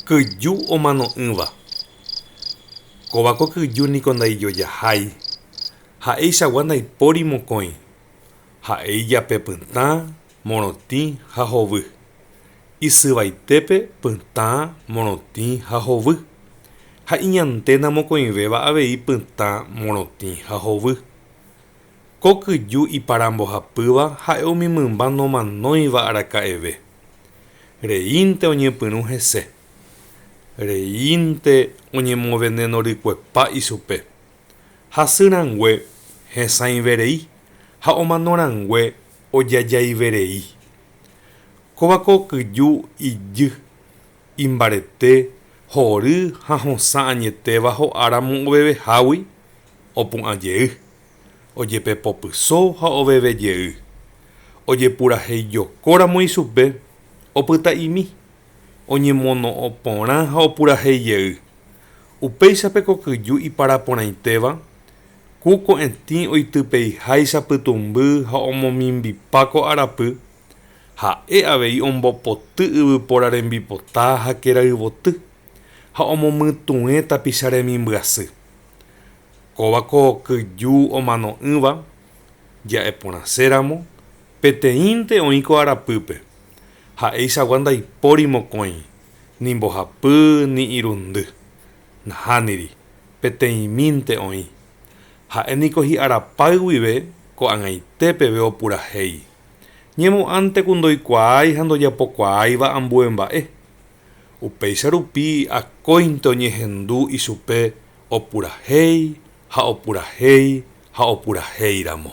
Kyju omano'ỹva. Kóva ko kyju niko ndaijojahái, ha'eichagua ndaipóri mokõi. Ha'e ijape pytã, morotĩ ha hovy. Isyvaitépe pytã, morotĩ ha hovy. Ha iñanténa mokõivéva avei pytã, morotĩ ha hovy. Ko kyju iparambohapýva ha'e umi mymba nomanóiva araka'eve. Reínte oñepyrũ hese. Reínte oñemovenenorykuepa ichupe. Hasy rangue hesãiverei ha omano rangue ojajaiverei. Kóva ko kyju ijy, imbarete, hory ha hosã añetéva ho'áramo ovevehágui, opu'ãjey. ojepepopyso ha oveve jey. Ojepuraheijokóramo ichupe, opyta'imi, oñemono'õ porã ha opurahéi jey. Upéicha pe kokyju iparaporãitéva, ku ko'ẽtĩ oitypeiháicha pytũmby ha omomimbipa ko arapy, ha'e avei ombopoty yvypóra rembipota ha kerayvoty, ha omomytũe tapicha remimbyasy. Kóva ko kyju omano'ỹva ja'eporãséramo peteĩnte oĩ ko arapýpe, ha'eichagua ndaipóri mokõi, ni mbohapy ni irundy, nahániri, peteĩmínte oĩ. Ha'e niko hi'arapáy guive ko'ag̃aite peve opurahéi. Ñemo'ãnte ku ndoikuaái ha ndojapokuaáiva ambue mba'e. Upéicha rupi akóinte oñehendu ichupe Opurahéi ha opurahéi ha opurahéi ramo.